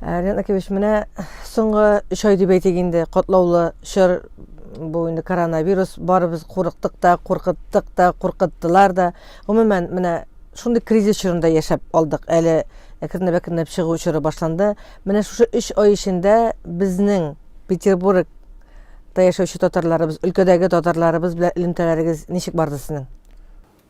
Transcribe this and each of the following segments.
Ә, Ренат Акимович, менә соңгы өч ай дип әйтик инде, котлаулы чор бу инде коронавирус, барыбыз курыктык та, куркыттык та, куркыттылар да. Гомумән, менә шундый кризис чорында яшәп алдык. Әле әкренләп-әкренләп чыгу чоры башланды. Менә шушы өч ай эчендә безнең Петербург та яшәүче татарларыбыз, өлкәдәге татарларыбыз белән элемтәләрегез ничек барды сезнең?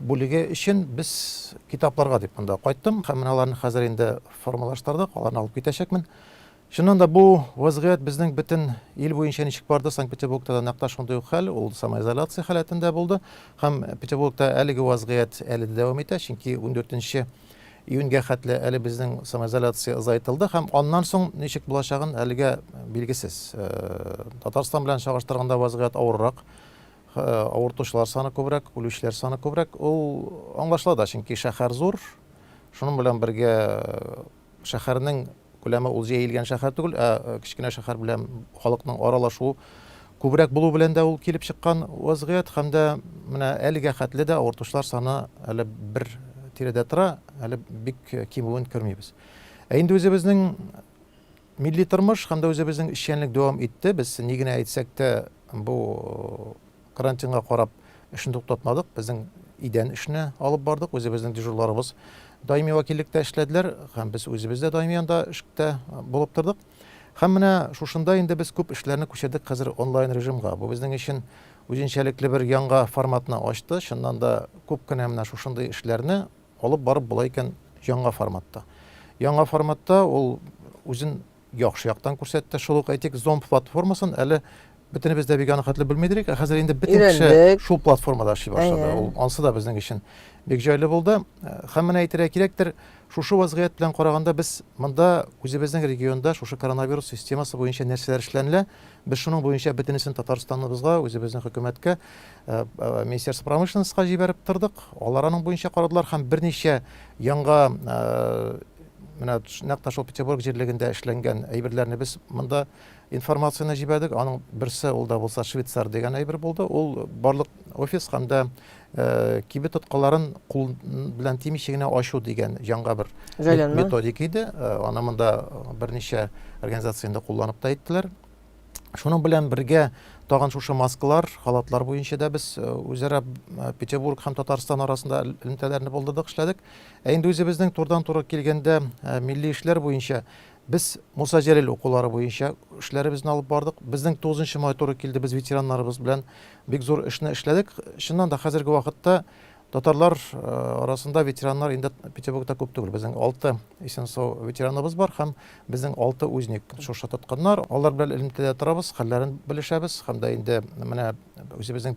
бүлеге өчен без китапларга дип монда кайттым һәм менә аларны хәзер инде формалаштырдык, аларны алып китәчәкмен. Чыннан да, бу вазгыять безнең бөтен ил буенча ничек барды, Санкт-Петербургта да нәкъ та шундый ук хәл, ул самоизоляция халәтендә булды. Һәм Петербургта әлеге вазгыять әле дә дәвам итә, чөнки ундүртенче июньгә хәтле әле безнең самоизоляция озайтылды һәм аннан соң ничек булачагын әлегә билгесез. Татарстан белән чагыштырганда вазгыять авыррак. Авыртучылар саны күбрәк, үлүчеләр саны күбрәк. Ул аңлашыла да, чөнки шәһәр зур. Шуның белән бергә шәһәрнең күләме ул җәелгән шәһәр түгел, ә кечкенә шәһәр белән халыкның аралашуы күбрәк булу белән дә ул килеп чыккан вазгыять һәм дә менә әлегә хәтле дә авыртучылар саны әле бер тирәдә тора, әле бик кимүен күрмибез. Ә инде үзебезнең Милли тормыш һәм дә үзебезнең эшчәнлек дәвам итте. Без ни генә әйтсәк тә, бу карантинга карап эшне туктатмадык. Безнең идән эшне алып бардык. Үзебезнең дежурларыбыз даими вәкиллектә эшләделәр һәм без үзебез дә даими анда эштә булып тордык. Һәм менә шушында инде без күп эшләрне күчердек хәзер онлайн режимга. Бу безнең өчен үзенчәлекле бер яңа форматны ачты. Чыннан да күп кенә менә шушындый эшләрне Алып барып була икән яңа форматта. Яңа форматта ул үзен яхшы яктан күрсәтте. Шул ук әйтик, зомб платформасын әле бөтенебез дә бик анахатлы белмидер идек, ә хәзер инде бөтен кеше шул платформада эшли башлады. Ул ансы да безнең өчен бик җайлы булды. Э, һәм менә әйтергә кирәктер, шушы вазгыять белән караганда без монда үзебезнең регионда шушы коронавирус системасы буенча нәрсәләр эшләнелә, без шуның буенча бөтенесен Татарстаныбызга, үзебезнең хөкүмәткә Э, э, министерство промышленностька җибәреп тордык алар аның буенча карадылар һәм берничә яңа э, менә нәкъ та шул петербург җирлегендә эшләнгән әйберләрне без монда информацияне җибәрдек аның берсе ул да булса швейцар дигән әйбер булды ул барлык офис һәм дә кибет тоткаларын кул белән тимичә генә ачу дигән яңа бер методика иде аны монда берничә организация инде кулланып та әйттеләр Шуның белән бергә тагын шушы маскалар, халатлар буенча да без э, үзара э, Петербург һәм Татарстан арасында элемтәләрне булдырдык, эшләдек. Ә инде үзебезнең турыдан-туры килгәндә э, милли эшләр буенча без Муса Җәлил укулары буенча эшләребезне алып бардык. Безнең 9 май туры килде, без ветераннарыбыз белән бик зур эшне эшләдек. Чыннан да хәзерге вакытта Татарлар арасында ветераннар инде Петербургта күп түгел. Безнең алты исенсо ветераныбыз бар һәм безнең алты узник шушы тоткыннар. Алар белән элемтәдә торабыз, хәлләрен белешәбез һәм дә инде менә үзебезнең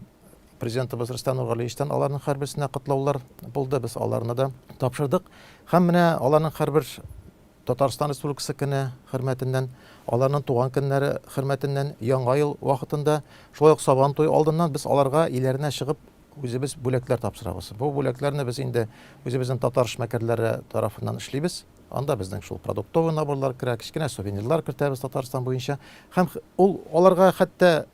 президентыбыз Рөстәм Нургалиевичтан аларның һәрберсенә котлаулар булды. Без аларны да тапшырдык. Һәм менә аларның һәрбер Татарстан Республикасы көне хөрмәтеннән, аларның туган көннәре хөрмәтеннән, Яңа ел вакытында, шулай ук Сабан туе алдыннан без аларга иләренә чыгып Үзебез бүләкләр тапшырабыз. Бу бүләкләрне без инде үзебезнең татар эшмәкәрләре тарафыннан эшлибез. Анда безнең шул продуктовый наборлар керә, кечкенә сувенирлар кертәбез Татарстан буенча. Һәм ул аларга хәтта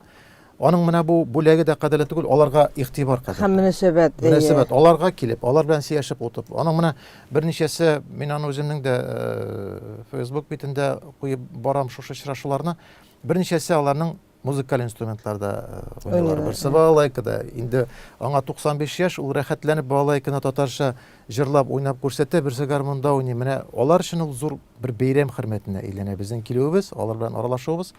аның менә бу бүләге дә кадерле түгел, аларга игътибар кадерле. Һәм мөнәсәбәт. Мөнәсәбәт. Аларга килеп, алар белән сөйләшеп утып. Аның менә берничәсе, мин аны үземнең дә э, Facebook битендә куеп барам шушы очрашуларны. Берничәсе аларның музыкаль инструментларда э, уйныйлар. Берсе балалайкада. Инде аңа 95 яшь, ул рәхәтләнеп балалайканы татарча җырлап, уйнап күрсәтә, берсе гармунда уйный. Менә алар өчен ул зур бер бәйрәм хөрмәтенә әйләнә безнең килүебез, алар белән аралашуыбыз.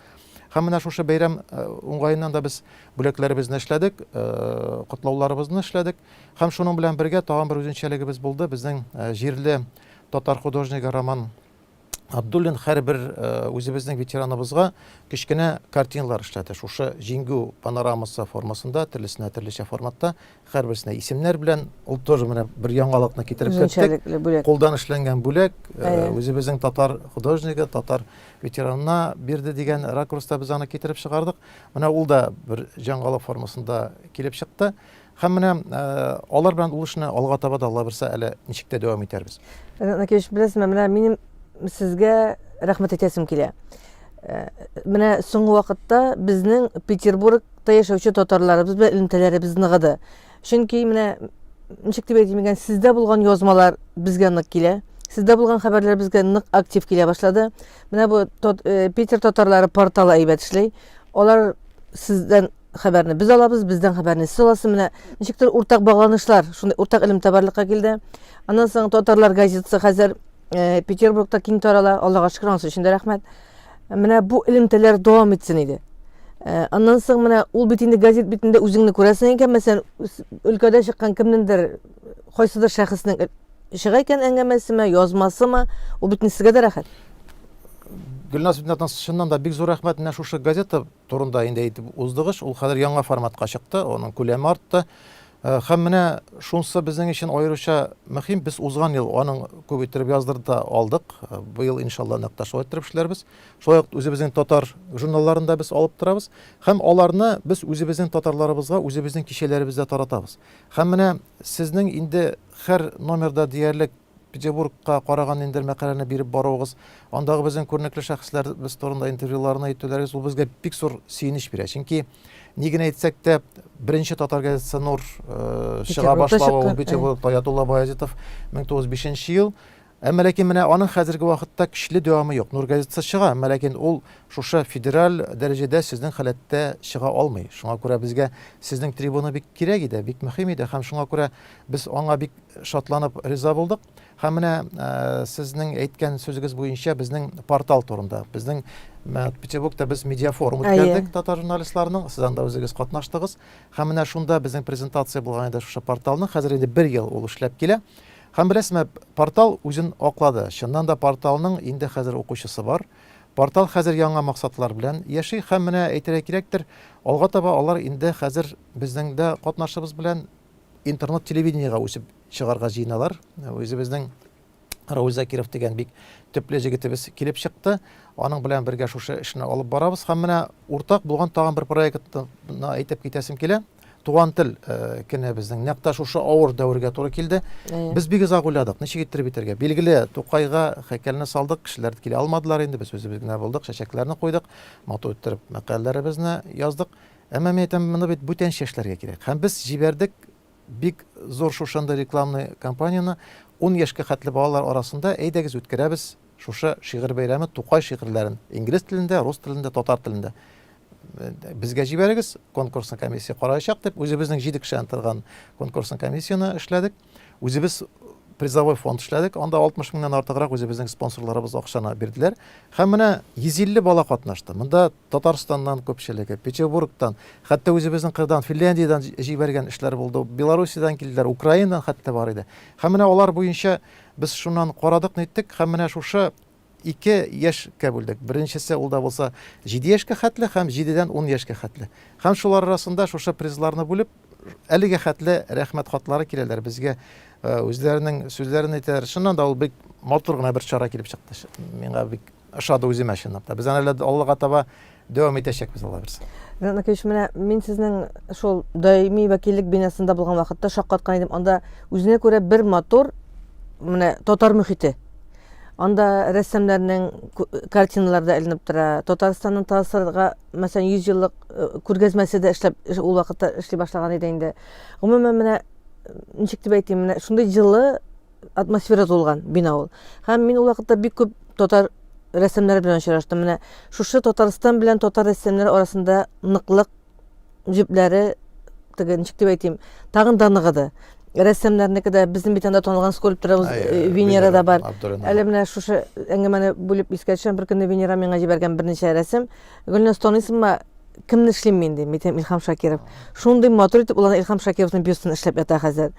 Һәм менә шушы бәйрәм э, уңаеннан да без бүләкләребезне эшләдек, э, котлауларыбызны эшләдек. Һәм шуның белән бергә тагын бер үзенчәлегебез булды. Безнең җирле татар художнигы Роман Абдуллин һәрбер үзебезнең ветераныбызга кечкенә картиналар эшләде. Шушы җиңгү панорамасы формасында, төрлесенә төрлечә форматта, һәрберсенә исемнәр белән. Ул тоже менә бер яңалыкны китереп керттек. Кулдан эшләнгән бүләк, үзебезнең татар художнигы, татар ветеранына бирде дигән ракурста без аны китереп чыгардык. Менә ул да бер яңалык формасында килеп чыкты. Һәм менә э, алар белән ул эшне алга таба да Алла берсә әле ничек тә дәвам итәрбез. Накевич, беләсезме, менә минем сезгә рәхмәт әйтәсем килә. Э, менә соңгы вакытта безнең Петербургта яшәүче татарларыбыз белән элемтәләребез ныгыды. Чөнки менә ничек дип әйтим икән, сездә булган язмалар безгә нык килә. Сездә булган хәбәрләр безгә нык актив килә башлады. Менә бу э, Питер татарлары порталы әйбәт эшли. Алар сездән хәбәрне без алабыз, бездән хәбәрне сез аласыз. Менә ничектер уртак багланышлар, шундый уртак илем табарлыкка килде. Аннан соң татарлар газетасы хәзер э, Петербургта киң тарала. Аллага шөкер, анысы өчен дә рәхмәт. Менә бу элемтәләр дәвам итсен иде. Э, аннан соң менә ул бит инде газет битендә үзеңне күрәсең икән, мәсәлән, өлкәдә чыккан кемнеңдер, кайсыдыр шәхеснең Чыга икән әңгәмәсеме, язмасымы, ул бит инде сезгә дә рәхәт. Гөлназ Битнатан чыннан да бик зур рәхмәт менә шушы газета турында инде әйтеп уздыгыз. Ул хәзер яңа форматка чыкты, аның күләме артты. Э, һәм менә шунсы безнең өчен аеруча мөһим, без узган ел аның күп иттереп яздырды алдык. Э, быел иншалла нәкъ та шулай иттереп эшләрбез. Шулай ук үзебезнең татар журналларын да без алып торабыз һәм аларны без үзебезнең татарларыбызга үзебезнең кичәләребездә таратабыз. Һәм менә сезнең инде Хәр номерда диярлек Петербургка караган ниндидер мәкаләне биреп баруыгыз, андагы безнең күренекле шәхесләребез турында интервьюларны итүләрегез ул безгә бик зур сөенеч бирә. Чөнки ни генә әйтсәк тә, беренче татар газетасы Нур чыга Петербургта башлавы, ул чыккан, әй. Петербургта, Ятулла Баязитов, 1905 ел. Әмма ләкин менә аның хәзерге вакытта көчле дәвамы юк. Нур газетасы чыга, әмма ләкин ул шушы федераль дәрәҗәдә сезнең халәттә чыга алмый. Шуңа күрә безгә сезнең трибуна бик кирәк иде, бик мөһим иде һәм шуңа күрә без аңа бик шатланып риза булдык. Һәм менә сезнең әйткән сүзегез буенча безнең портал турында, безнең Петербургта без медиафорум үткәрдек татар журналистларының, сез анда үзегез катнаштыгыз. Һәм менә шунда безнең презентация булган иде шушы порталның. Хәзер инде бер ел ул эшләп килә. Һәм беләсезме, портал үзен аклады. Чыннан да порталның инде хәзер укучысы бар. Портал хәзер яңа максатлар белән яши һәм менә әйтергә кирәктер, алга таба алар инде хәзер безнең дә катнашыбыз белән интернет-телевидениегә үсеп чыгарга җыеналар. Үзебезнең Равил Закиров дигән бик төпле җегетебез килеп чыкты. Аның белән бергә шушы эшне алып барабыз һәм менә уртак булган тагын бер проектны әйтеп китәсем килә. туган тел э, кенә безнең нәкъ тә шушы авыр дәвергә туры килде без бик озак уйладык ничек иттереп итәргә билгеле тукайга һәйкәлне салдык кешеләр килә алмадылар инде без үзебез генә булдык чәчәкләрне куйдык матур иттереп мәкаләләребезне яздык әмма мин әйтәм моны бит бүтән яшьләргә кирәк һәм без җибәрдек бик зур шушында рекламный кампанияны ун яшькә хәтле балалар арасында әйдәгез үткәрәбез Шушы шигырь бәйрәме Тукай шигырьләрен инглиз телендә, рус телендә, татар телендә безгә җибәрегез, конкурсны комиссия караячак дип, үзебезнең җиде кешедән торган конкурсны комиссияне эшләдек. Үзебез призовой фонд эшләдек. Анда 60 меңнән артыграк үзебезнең спонсорларыбыз акчаны бирделәр. Һәм менә 150 бала катнашты. Монда Татарстаннан күпчелеге, Петербургтан, хәтта үзебезнең кырдан, Финляндиядән җибәргән эшләр булды. Белоруссиядән килделәр, Украинадан хәтта бар иде. Һәм менә алар буенча Без шуннан карадык-ниттек һәм менә шушы ике яшькә бүлдек. Беренчесе ул да булса җиде яшькә хәтле һәм җидедән ун яшькә хәтле. Һәм шулар арасында шушы призларны бүлеп, әлегә хәтле рәхмәт хатлары киләләр безгә, үзләренең сүзләрен әйтәләр. Чыннан да ул бик матур гына бер чара килеп чыкты. Миңа бик ошады үземә чынлап та. Без аны әле аллага таба дәвам итәчәкбез Алла бирсә. Ринат Накович, менә мин сезнең шул даими вәкиллек бинасында булган вакытта шаккаткан идем. Анда үзенә күрә бер матур менә татар мөхите. Анда рәссамнарның картиналары да эленеп тора. Татарстанның ТАССРга, мәсәлән, 100 еллык э, күргәзмәсе дә эшләп ул вакытта эшли башлаган иде инде. Гомумән, менә ничек дип әйтим, менә шундый җылы атмосфера тулган бина ул. Һәм мин ул вакытта бик күп татар рәссамнары белән очраштым. Менә шушы Татарстан белән татар рәссамнары арасында ныклык җепләре теге ничек дип әйтим, тагын да ныгыды. Рәссамнарныкы да безнең бит анда танылган скульпторыбыз Ай, э, Венера да бар. Абдурина. Әле менә шушы әңгәмәне бүлеп искә төшәм, бер көнне Венера миңа җибәргән берничә рәсем. Гөлназ танысыңмы? Кемне эшлим мин дим, әйтәм Илһам Шакиров. Шундый матур итеп ул аны Илһам Шакировның бюстын эшләп ята хәзер.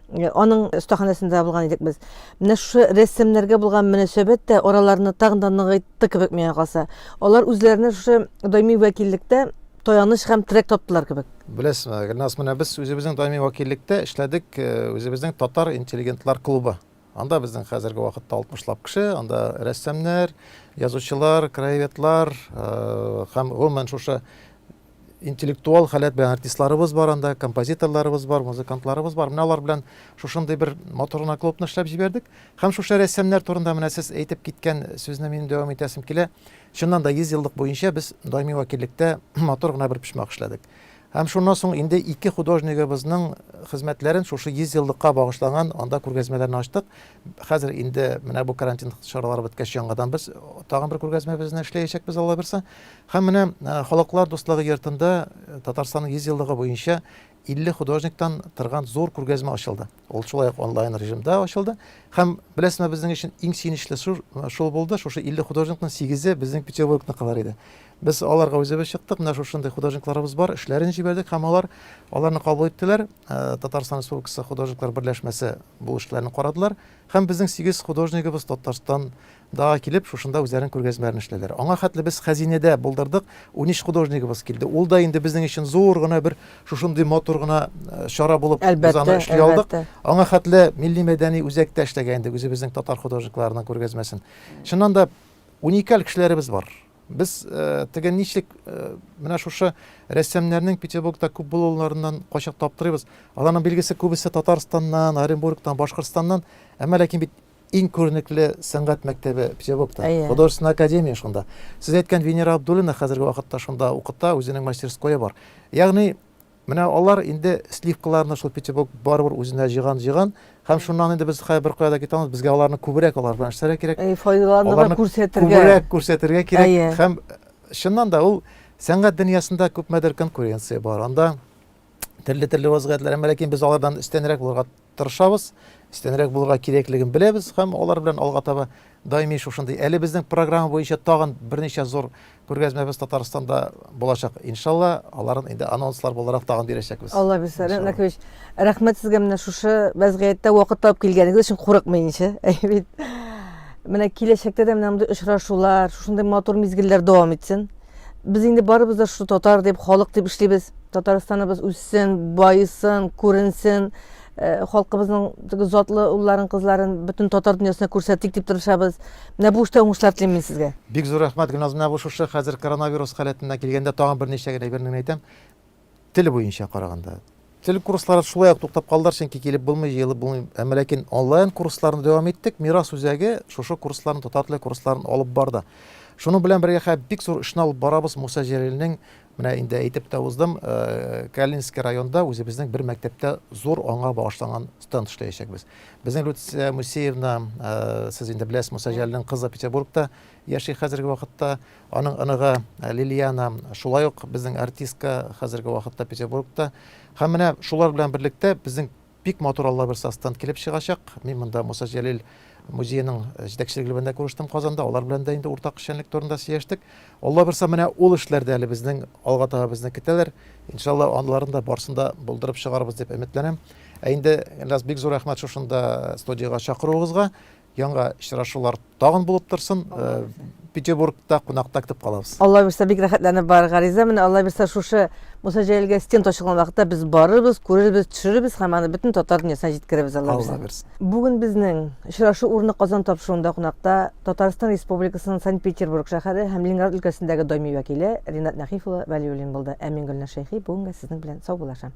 Э, аның остаханәсендә табылган идек без. Менә шушы рәссамнарга булган мөнәсәбәт тә араларны тагын да ныгытты кебек миңа калса. Алар үзләренә шушы даими вәкиллектә таяныч һәм терәк таптылар кебек. Беләсезме, Гөлназ, менә без үзебезнең даими вәкиллектә эшләдек, э, үзебезнең татар интеллигентлар клубы. Анда безнең хәзерге вакытта 60 лап кеше, анда рәссамнар, язучылар, краеведлар э, һәм гомумән шушы интеллектуаль халәт белән артистларыбыз бар анда, композиторларыбыз бар, музыкантларыбыз бар. Менә алар белән шушындый бер матур гына клубны эшләп җибәрдек. Һәм шушы рәссамнар турында менә сез әйтеп киткән сүзне мин дәвам итәсем килә. Чыннан да 100 еллык буенча без даими вәкиллектә матур гына бер почмак эшләдек. Һәм шуннан соң инде ике художнигыбызның хезмәтләрен шушы 100 еллыкка багышланган анда күргәзмәләрне ачтык. Хәзер инде менә бу карантин чаралары беткәч яңадан без тагын бер күргәзмәбезне эшләячәкбез Алла бирса. Һәм менә Халыклар дуслыгы йортында Татарстанның 100 еллыгы буенча 50 художниктан торган зур күргәзмә ачылды. Ул шулай ук онлайн режимда ачылды. Һәм беләсезме, безнең өчен иң сөенечле шул булды, шушы 50 художникның 8-е безнең Петербургныкылар иде. Без аларга үзебез чыктык, менә шушындый художникларыбыз бар, эшләрен җибәрдек һәм алар аларны кабул иттеләр. Татарстан Республикасы художниклар берләшмәсе бу эшләрне карадылар һәм безнең 8 художнигыбыз Татарстан Дага килеп, шушында үзләренең күргәзмәләрен эшләделәр. Аңа хәтле без хәзинәдә булдырдык, унөч художнигыбыз килде. Ул да инде безнең өчен зур гына бер шушындый матур гына чара булып, без аны эшли алдык. Аңа хәтле милли-мәдәни үзәктә эшләгән идек, үзебезнең татар художникларының күргәзмәсен. Чыннан да, уникаль кешеләребез бар. Без теге нишлек менә шушы рәссамнарның Петербургта күп булуларыннан кайчак таптырыйбыз. Аларның билгесе күбесе Татарстаннан, Оренбургтан, Башкортстаннан, әмма ләкин бит Иң күренекле сәнгать мәктәбе Петербургта, Әйе. художественная академия шунда. Сез әйткән Венера Абдуллина хәзерге вакытта шунда укыта, үзенең мастерское бар. Ягъни, менә алар инде сливкаларны шул Петербург барыбер үзенә җыйган-җыйган, һәм шуннан инде без хәзер беркая да китә алмыйбыз, безгә аларны күбрәк алар белән эшләргә кирәк. Әйе, файдаланырга, аларны күрсәтергә. Күбрәк күрсәтергә кирәк. Әйе. Һәм чыннан да ул сәнгать дөньясында күпмедер конкуренция бар. Анда төрле-төрле вазгыятьләр, әмма ләкин без алардан өстәнрәк булырга тырышабыз, өстәнрәк булырга кирәклеген беләбез һәм алар белән алга таба даими шушындый. Әле безнең программа буенча тагын берничә зур күргәзмәбез Татарстанда булачак. Иншалла, аларын инде анонслар буларак тагын бирәчәкбез. Алла бирсә, Ренат Накович, рәхмәт сезгә менә шушы вәзгыятьтә вакыт табып килгәнегез өчен курыкмыйнча. Әйе бит. Менә киләчәктә дә менә мондый очрашулар, шушындый матур мизгелләр дәвам итсен. Без инде барыбыз да шул татар дип, халык дип эшлибез. Татарстаныбыз үссен, байысын, күренсен. Э, халкыбызның теге затлы улларын, кызларын бөтен татар дөньясына күрсәтик дип тырышабыз. Менә бу эштә уңышлар телим мин сезгә. Бик зур рәхмәт, Гөлназ. Менә бу шушы хәзер коронавирус халәтенә килгәндә тагын берничә генә әйберне генә әйтәм. Тел буенча караганда. Тел курслары шулай ук туктап калдылар, чөнки килеп булмый, җыелып булмый. Әмма ләкин онлайн курсларны дәвам иттек. Мирас үзәге шушы курсларны, татар теле курсларын алып барды. Шуның белән бергә хә бик зур эшне алып барабыз. Муса Җәлилнең, менә инде әйтеп тә уздым, э, Калининский районда үзебезнең бер мәктәптә зур аңа багышланган стенд эшләячәкбез. Безнең Люция Мусеевна, э, сез инде беләсез, Муса Җәлилнең кызы Петербургта яши хәзерге вакытта. Аның оныгы Лилиана шулай ук безнең артистка, хәзерге вакытта Петербургта. Һәм менә шулар белән берлектә безнең бик матур Алла бирса стенд килеп чыгачак. Мин монда Муса Җәлил музееның җитәкчелеге белән дә күрештем Казанда, алар белән дә инде уртак эшчәнлек турында сөйләштек. Алла бирса менә ул эшләр дә әле безнең алга таба безне көтәләр. Иншалла анларын да барсын да булдырып чыгарбыз дип өметләнәм. Ә инде Ильназ бик зур рәхмәт шушында студиягә чакыруыгызга. Яңа очрашулар тагын булып торсын. Петербургта кунакта көтеп калабыз. Алла бирсә, бик рәхәтләнеп бар гариза. Менә Алла бирсә, шушы Муса Җәлилгә стенд ачылган вакытта без барырбыз, күрербез, төшерербез һәм аны бөтен татар дөньясына җиткерербез Алла бирсә. Алла бирсә. Бүген безнең очрашу урыны Казан тапшыруында кунакта Татарстан Республикасының Санкт-Петербург шәһәре һәм Ленинград өлкәсендәге даими вәкиле Ринат Нәхиф улы Вәлиуллин булды. Ә мин Гөлназ Шәйхи бүгенгә сезнең белән саубуллашам.